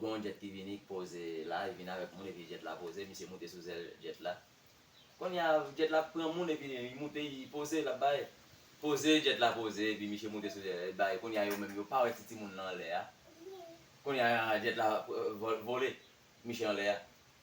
Gon yon jet ki vini k poze la, li vini avek moun epi jet la poze, misye moute sou zel jet la. Konnya jet la pran moun epi li moute li poze lap bay poze jet la poze epi misye moute sou jet la li bay konnya yo menm yo pa wè ti timoun lan anlè a konnya jet la vole misye anlè a.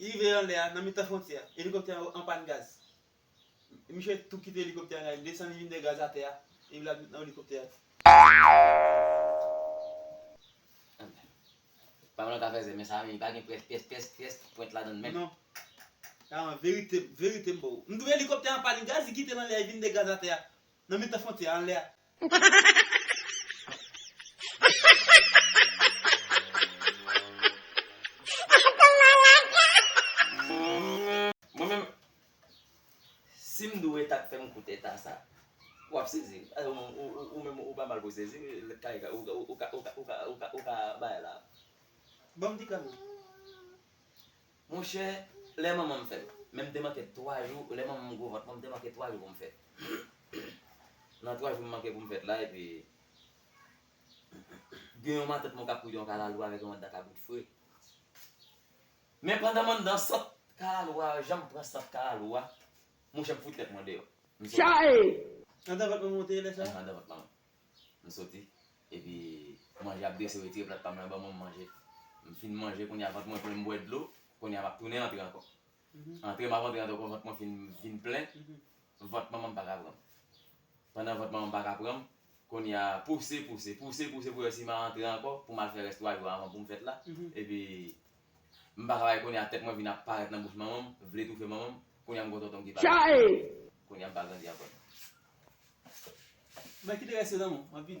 Li rive anlè a, nan mitan fwontyè a, elikoptè an an pàn gaz. Miche tou kite elikoptè an la, li desann li vin mete gaz atè a, epi l'al met nan elikoptè a tou. Anmèd. Pam lan ka fè zè, men sa menm li pa gen près pès pès pès pwent ladann menm. Non. Karan, verite, verite m ba w. M di w elikoptè an an pàn gaz, li kite l anlè a, li vin mete gaz atè a, nan mitan fwontyè a, anlè a. Mwen menm si m dwe ta k fè m koute eta sa w ap sezi ou menm ou pa mal pou sezi ou ka bay la ban m ti kran tou. Monchè lè manmanm fèt men m te manke 3 jou lè manmanm gro vant mwen m te manke 3 jou pou m fèt nan 3 jou m manke pou m fèt la epi gen yon matant mwen kap koud yon kalalou avèk yon anndan kabrit fre men pandan m anndan sant kalalou a jan m pran sant kalalou a monchè m fout tèt mwen deyò m sot Chaaaee! Anndan vant mwen monte lè sa? Anndan vant manmanm. M soti, epi manje ap dese retire plat pa m lan ban mwen m manje. M fin manje kounye a vant mwen plen m bwè dlo, kounye a m ap tounen antre ankò. Antre m ap antre ankò vant mwen fin vin plen, vant manman m pa ka pran m. Pandan vant manman m pa ka pran m, kounye a pouse, pouse, pouse, pouse pou wè si m a antre ankò pou m al fè rès 3 jou avan pou m fèt la, epi M pa ka bay kounye a tèt mwen vin ap parèt nan bouch manman m vle toufe manman m kounye a m gon tonton m ki pa kounye a m pa grandi ankò. Mwen kite rès yo nan men w anpil.